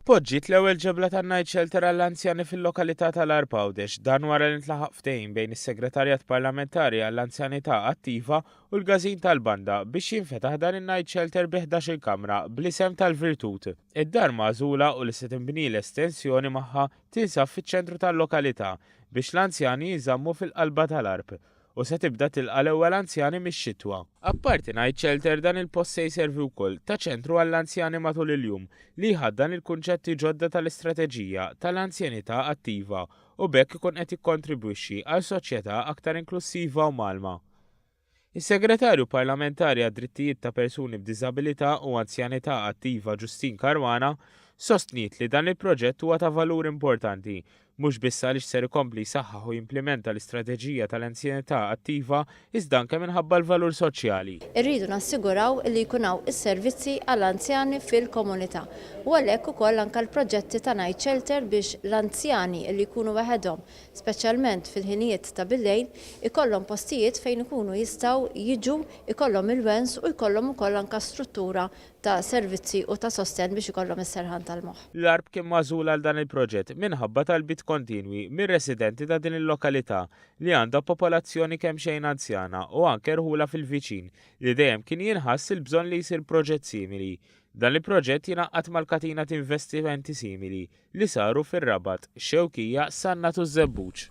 Poġġiet l-ewwel ġebla tan-night shelter għall-anzjani fil-lokalità tal-Arb Għawdex dan wara li ntlaħaq ftehim bejn is-Segretarjat Parlamentari għall-Anzjanità Attiva u l-Każin tal-Banda biex jinfetaħ dan in-night shelter bi 11-il kamra bl-isem tal-Virtut. Id-dar magħżula u li se tinbni l-estensjoni magħha tinsab fiċ-ċentru tal-lokalità biex l-anzjani jinżammu fil-qalba tal-Arb u se tibda tilqa' l-ewwel anzjani mix-xitwa. Apparti Night Shelter, dan il-post se jservi wkoll ta' ċentru għall-anzjani matul il-jum li jħaddan il-kunċetti ġodda tal-istrateġija tal-anzjanità attiva u b'hekk ikun qed jikkontribwixxi għal soċjetà aktar inklussiva u mgħallma. Is-Segretarju Parlamentari għad-Drittijiet ta' Persuni b'Diżabilità u Anzjanità Attiva Justyne Caruana sostniet li dan il-proġett huwa ta' valur importanti mhux biss għaliex ser ikompli jsaħħaħ u jimplimenta l-istrateġija tal-anzjanità attiva iżda anke minħabba l-valur soċjali. Irridu nassiguraw li jkun hawn is-servizzi għall-anzjani fil-komunità u għalhekk ukoll anke l-proġetti ta' night shelter biex l-anzjani li jkunu weħedhom, speċjalment fil-ħinijiet ta' billejl, ikollhom postijiet fejn ikunu jistgħu jiġu, ikollhom il-wens u jkollhom ukoll anke struttura ta' servizzi u ta' sostenn biex ikollhom is-serħan tal-moħħ. L-Għarb kien magħżul għal dan il-proġett minħabba talbiet kontinwi mir-residenti ta' din il-lokalità li għandha popolazzjoni kemxejn anzjana u anke rħula fil-viċin li dejjem kien jinħass il-bżonn li jsir proġett simili. Dan il-proġett jingħaqqad mal-katina t'investimenti simili li saru fir-Rabat, Xewkija, Sannat u ż-Żebbuġ.